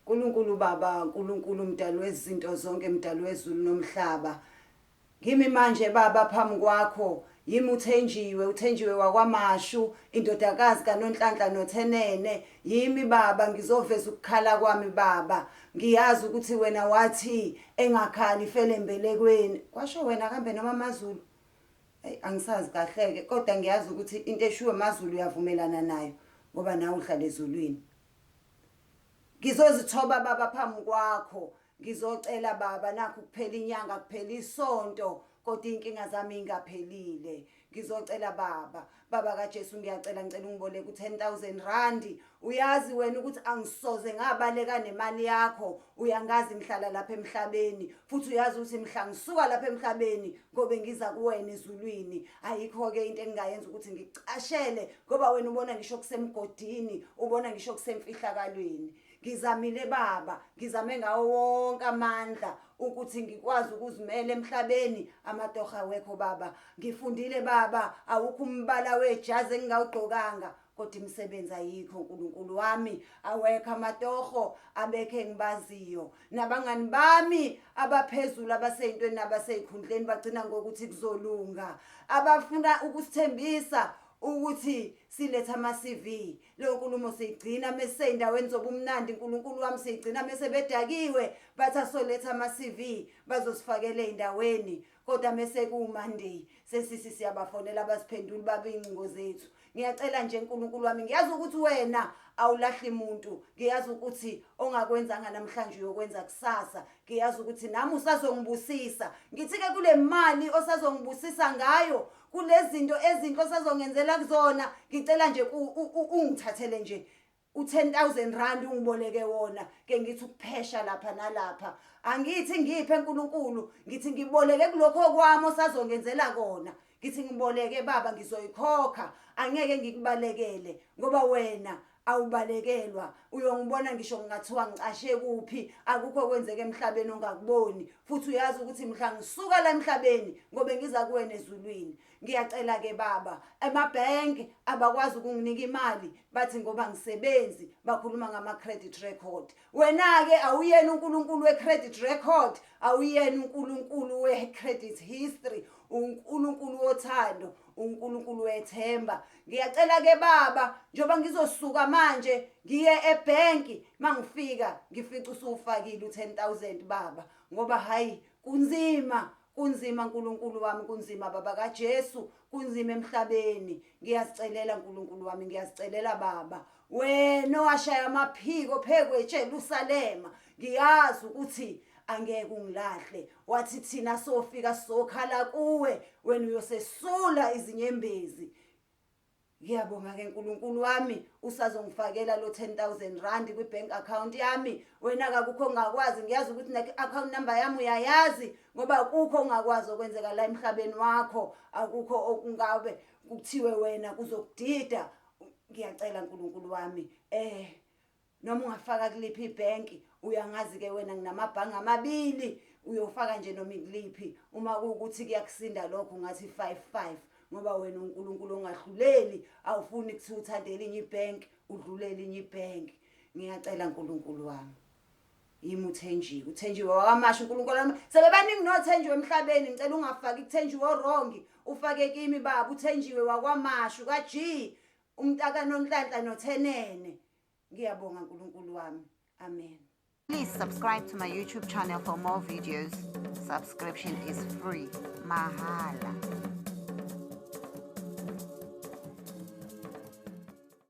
Nkulunkulu Baba, Nkulunkulu Mdali wezinto zonke, Mdali wezulu nomhlaba, ngimi manje Baba phambi kwakho, yimi uThenjiwe, uThenjiwe wakwaMashu, indodakazi kaNonhlanhla noThenene, yimi Baba, ngizoveza ukukhala kwami Baba, ngiyazi ukuthi wena wathi engakhali ifele embelekweni, kwasho wena kambe noma amaZulu? Eyi angisazi kahleke kodwa ngiyazi ukuthi into eshiwo emazulu uyavumelana nayo ngoba nawe uhlala ezulwini. Ngizozithoba baba phambi kwakho ngizocela baba nakho kuphela inyanga kuphela isonto kodwa inkinga zami ingaphelile ngizocela baba baba kaJesu ngiyacela ngicela ungiboleke u10000 rand uyazi wena ukuthi angisoze ngabaleka nemali yakho uyangazi ngihlala lapha emhlabeni futhi uyazi ukuthi mhla ngisuka lapha emhlabeni ngobe ngiza kuwena ezulwini ayikho-ke into engingayenza ukuthi ngicashele ngoba wena ubona ngisho kusemgodini ubona ngisho kusemfihlakalweni ngizamile baba ngizame ngawo wonke amandla ukuthi ngikwazi ukuzimela emhlabeni amatoha wekho baba ngifundile baba awukho umbala wejazi engingawugqokanga kodwa imisebenzi ayikho uNkulunkulu wami awekho amatoho abekhe ngibaziyo nabangani bami abaphezulu abaseyintweni nabaseyikhundleni bagcina ngokuthi kuzolunga abafuna ukusithembisa ukuthi siletha ama-CV leyo nkulumo siyigcina mese seyindaweni zobumnandi uNkulunkulu wami siyigcina mese bedakiwe bathi asoletha ama-CV bazosifakela endaweni kodwa mese kuwumonday sesisi siyabafonela abasiphenduli babe iy'ncingo zethu ngiyacela nje nkulunkulu wami ngiyazi ukuthi wena awulahli muntu ngiyazi ukuthi ongakwenzanga namhlanje uyokwenza kusasa ngiyazi ukuthi nami usazongibusisa ngithi-ke kule mali osazongibusisa ngayo kulezinto ezinhle osazongenzela kuzona ngicela nje ungithathele nje u-10000 ungiboleke wona ke ngithi ukuphesha lapha nalapha angithi ngiphe nkulunkulu ngithi ngiboleke kulokho kwami osazongenzela kona ngithi ngiboleke baba ngizoyikhokha angeke ngikubalekele ngoba wena awubalekelwa uyongibona ngisho ngingathiwa ngicashe kuphi akukho kwenzeka emhlabeni ongakuboni futhi uyazi ukuthi mhla ngisuka la emhlabeni ngobe ngiza kuwena ezulwini Ngiyacela ke baba, amabhenki abakwazi ukunginika imali bathi ngoba ngisebenzi bakhuluma ngama credit record. Wena ke awuyena uNkulunkulu we credit record, awuyena uNkulunkulu we credit history, uNkulunkulu wothando, uNkulunkulu wethemba. Ngiyacela ke baba, njoba ngizosuka manje ngiye ebhenki mangifika ngifica usufakile u10000 baba ngoba hayi kunzima Kunzima Nkulunkulu wami kunzima baba kaJesu kunzima emhlabeni ngiyazicelela Nkulunkulu wami ngiyazicelela baba wena owashaya amaphiko phekwe eJerusalema ngiyazi ukuthi angeke ungilahle wathi thina sofika sokhala kuwe wena uyosesula izinyembezi Ngiyabonga ke Nkulunkulu wami usazongifakela lo 10000 rand kwi bank account yami wena akakukho ngakwazi ngiyazi ukuthi ne account number yami uyayazi ngoba kukho ngakwazi okwenzeka la emhlabeni wakho akukho okungabe kuthiwe wena kuzokudida ngiyacela Nkulunkulu wami eh noma ungafaka kuliphi ibhenki uyangazi-ke wena nginamabhange amabili uyofaka nje noma ikuliphi uma kuwukuthi kuyakusinda lokho ngathi five five ngoba wena unkulunkulu ongahluleli awufuni kuthi uthande elinye ibhenki udlule elinye ibhenki ngiyacela nkulunkulu wami yimi uthenjiwe uthenjiwe wakamasha unkulunkulu wami sebebaningi nothenjiwe emhlabeni ngicela ungafaki kuthenjiwe orongi ufake kimi baba uthenjiwe wakwamashu ka-g umntakanonhlanhla nothenene ngiyabonga nkulunkulu wami amen Please subscribe to my YouTube channel for more videos. Subscription is free. Mahala.